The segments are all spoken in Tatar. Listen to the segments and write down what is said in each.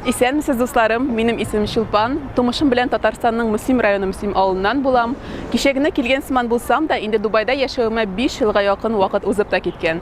Исәнмесез, дусларым. Минем исемем Чулпан. Тумышым белән Татарстанның Мөслим районы Мөслим авылыннан булам. Кичә генә килгән сыман булсам да, инде Дубайда яшәвемә 5 елга якын вакыт узып та киткән.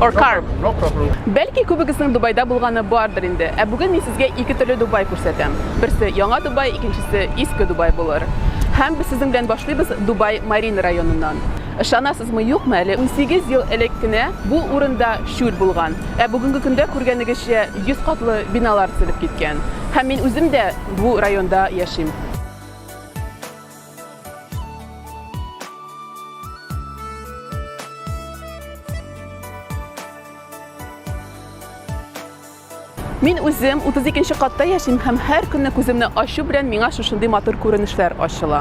or car. No problem. Бәлки күбегезнең Дубайда булганы бардыр инде. Ә бүген мин сезгә ике төрле Дубай күрсәтәм. Берсе яңа Дубай, икенчесе иске Дубай булыр. Һәм без сезнең белән башлыйбыз Дубай Марин районыннан. Ышанасызмы, юкмы, әле унсигез ел элек кенә бу урында чүл булган, ә бүгенге көндә күргәнегезчә йөз катлы биналар төзелеп киткән. Һәм мин үзем дә бу районда яшим. Мин үзем 32 нче катта яшим һәм һәр көнне күземне ачу белән миңа шушындый матур күренешләр ачыла.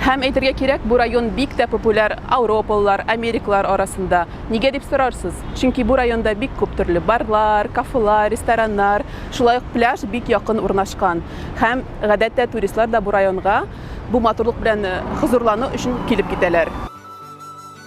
Һәм әйтергә кирәк, бу район бик тә популяр ауропалылар, америкалар арасында. Нигә дип сорарсыз? Чөнки бу районда бик күп төрле барлар, кафелар, рестораннар, шулай ук пляж бик якын урнашкан. Һәм гадәттә туристлар да бу районга бу матурлык белән э, хозурлану өчен килеп китәләр.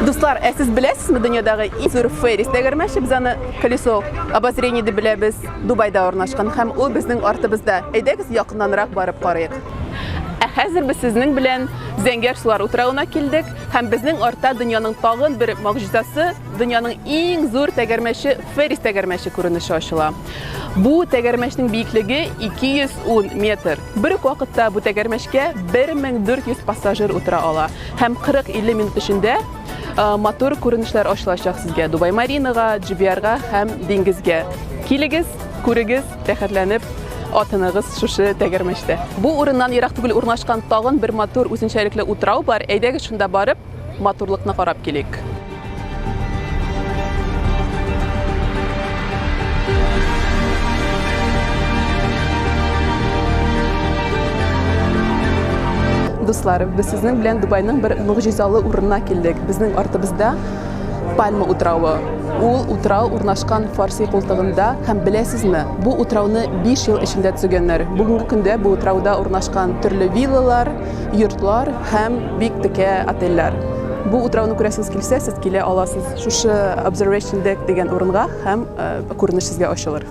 Дуслар, ә сез беләсезме дөньядагы иң зур феррис тәгәрмәче? Без аны колесо обозрения дип беләбез. Дубайда урнашкан һәм ул безнең артыбызда. Әйдәгез якыннанрак барып карыйк. Ә хәзер без сезнең белән Зәңгәр сулар утравына килдек һәм безнең артта дөньяның тагын бер могҗизасы, дөньяның иң зур тәгәрмәче Феррис тәгәрмәче күренеше ачыла. Бу тәгәрмәчнең биеклеге 210 метр. Бер үк вакытта бу тәгәрмәчкә 1400 пассажир утыра ала һәм 40-50 минут эчендә матур күренешләр ачылачак сезгә Дубай Маринага, GBR-га һәм диңгезгә. Килегез, күрегез, рәхәтләнеп атыныгыз шушы тәгәрмәчтә. Бу урыннан ерак түгел урнашкан тагын бер матур үзенчәлекле утрау бар. Әйдәгез шунда барып, Матурлыкны карап килик. Дуслар, без сезнең белән Дубайның бер могҗизалы урынына килдек. Безнең артыбызда Пальма утравы. Ул утрау урнашкан Фарси култыгында һәм беләсезме, бу утрауны 5 ел эчендә төзегәннәр. Бүгенге көндә бу утрауда урнашкан төрле виллалар, йортлар һәм бик текә отельләр. Бу утрауны күрәсез килсә, сез килә аласыз шушы Observation Deck дигән урынга һәм күренеш сезгә ачылыр.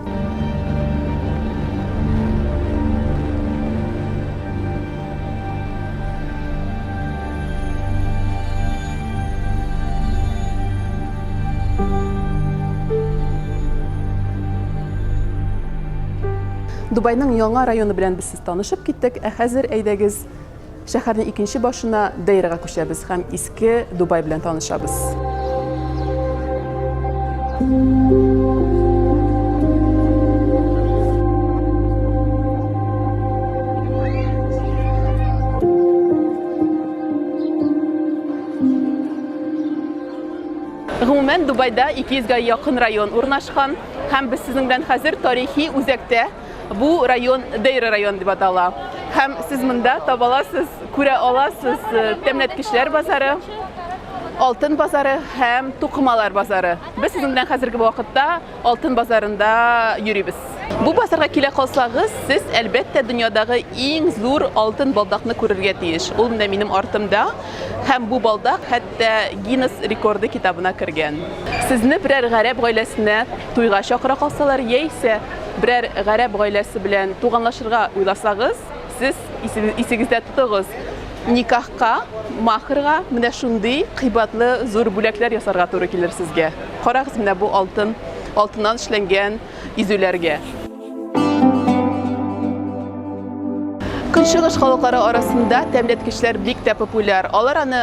Дубайның яңа районы белән без Танышып киттек, ә хәзер әйдәгез шәһәрнең икенче башына Дейрага күчәбез һәм иске Дубай белән танышабыз. Гомумән, Дубайда 200 гә якын район урнашкан һәм без сезнең белән хәзер тарихи үзәктә, Бу район Дейра район дип атала. Һәм сез монда табаласыз, күрә аласыз э, тәмләткечләр базары, алтын базары һәм тукымалар базары. Без сезнең белән хәзерге вакытта алтын базарында йөрибез. Бу базарга килә калсагыз, сез әлбәттә дөньядагы иң зур алтын балдакны күрергә тиеш. Ул менә минем артымда һәм бу балдак хәтта Гиннес рекорды китабына кергән. Сезне берәр гарәп гаиләсенә туйга чакыра калсалар, яисә берәр гарәп гаиләсе белән туганлашырга уйласагыз, сез исегездә тотыгыз, никахка, махрга менә шундый кыйбатлы зур бүләкләр ясарга туры килер сезгә. Карагыз менә бу алтын, алтыннан эшләнгән изүләргә. Көнчыгыш халыклары арасында тәмләткечләр бик тә популяр. Алар аны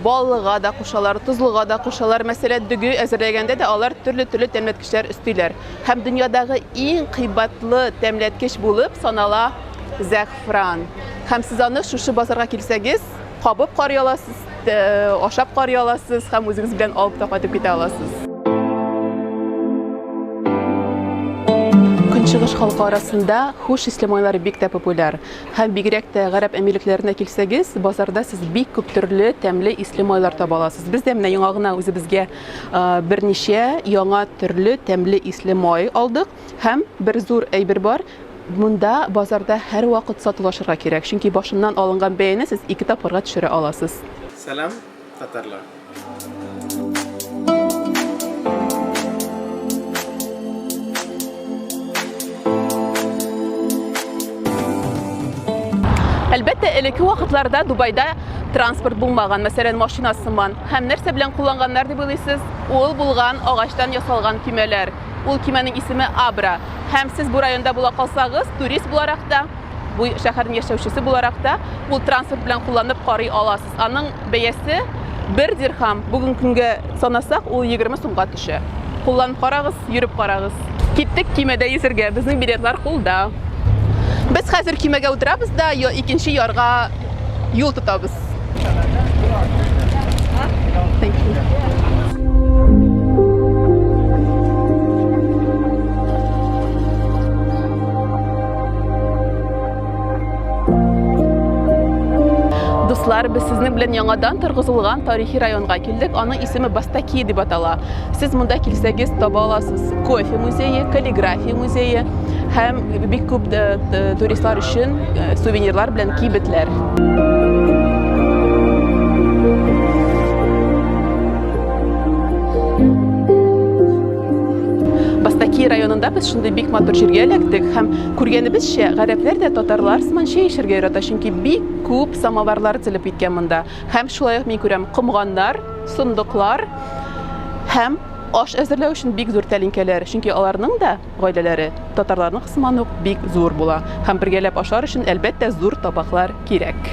баллыга да кушалар, тозлыга да кушалар. Мәсәлән, дөге әзерләгәндә дә алар төрле-төрле тәмләткечләр өстиләр. һәм дөньядагы иң кыйбатлы тәмләткеч булып санала зәгъфран. Һәм сез аны шушы базарга килсәгез, кабып карый аласыз, ашап карый аласыз һәм үзегез белән алып та кайтып китә аласыз. Көнчыгыш халкы арасында хуш исле майлар бик тә популяр. Һәм бигрәк тә гарәп әмирлекләренә килсәгез, базарда сез бик күп төрле тәмле исле майлар таба аласыз. Без дә менә яңа гына үзебезгә Берничә яңа төрле тәмле исле май алдык һәм бер зур әйбер бар, монда базарда һәрвакыт сатулашырга кирәк, чөнки башыннан алынган бәяне сез ике тапкырга төшерә аласыз. Сәлам, татарлар! Әлбәттә, элекке вакытларда Дубайда транспорт булмаган, мәсәлән, машина сыман. Һәм нәрсә белән кулланганнар дип уйлыйсыз? Ул булган агачтан ясалган кимәләр. Ул кимәнең исеме Абра. Һәм сез бу районда була калсагыз, турист буларак та, бу шәһәрнең яшәүчесе буларак та, ул транспорт белән кулланып карый аласыз. Аның бәясе бер дирхам. Бүген көнгә санасак, ул 20 сумга төшә. Кулланып карагыз, йөреп карагыз. Киттек кимәдә йөзергә. Безнең билетлар кулда. Без хәзер кимәгә утырабыз да, икенче ярга юл тотабыз. Дуслар, без сезнең белән яңадан торгызылган тарихи районга килдек. Аның исеме Бастаки дип атала. Сез монда килсәгез таба аласыз. Кофе музее, каллиграфия музее һәм бик күп э, туристлар өчен э, сувенирлар белән кибетләр. Бастаки районында без шундый бик матур җиргә эләктек һәм Күргәнебезчә, гарәпләр дә татарлар сыман чәй эчәргә ярата, чөнки бик күп самоварлар төзелеп киткән монда. Һәм шулай ук мин күрәм комганнар, сондыклар һәм аш әзерләү өчен бик зур тәлинкәләр, чөнки аларның да гаиләләре татарларның сыман ук бик зур була. Һәм бергәләп ашар өчен, әлбәттә, зур табаклар кирәк.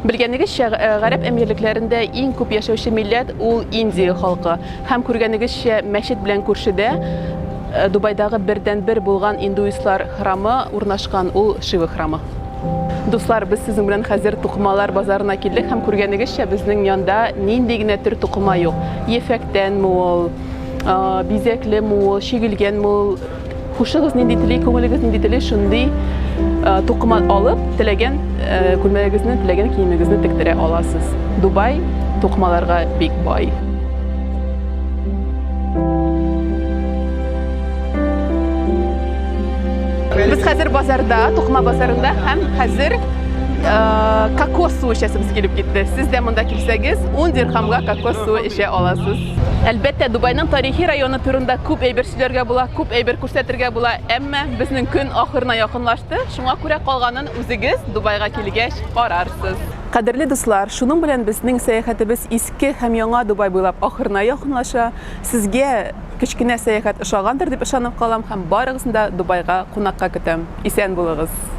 Белгәнегезчә, гарәп әмирлекләрендә иң күп яшәүче милләт ул Индия халкы. Һәм күргәнегезчә, мәчет белән күршедә Дубайдагы бердәнбер булган индуистлар храмы урнашкан, ул Шива храмы. Дуслар, без сезнең белән хәзер тукымалар базарына килдек һәм күргәнегезчә, безнең янда нинди генә төр тукыма юк. Ефәктәнме ул, бизәклеме ул, чигелгәнме ул, Хушыгыз нинди тели, күңелегез нинди тели, шундый тукыма алып, теләгән күлмәгегезне, теләгән киемегезне тектерә аласыз. Дубай тукымаларга бик бай. Без хәзер базарда, тукыма базарында һәм хәзер кокос суы эчәсебез килеп китте. Сез дә монда килсәгез, 10 дирхамга кокос суы эчә аласыз. Әлбәттә, Дубайның тарихи районы турында күп әйбер Сөйләргә була, күп әйбер күрсәтергә була, әмма безнең көн ахырына якынлашты, шуңа күрә калганын үзегез Дубайга килгәч карарсыз. Кадерле дуслар, шуның белән безнең сәяхәтебез иске һәм яңа Дубай буйлап ахырына якынлаша. Сезгә кечкенә сәяхәт ошагандыр дип ышанып калам һәм барыгызны да Дубайга кунакка көтәм. Исән булыгыз!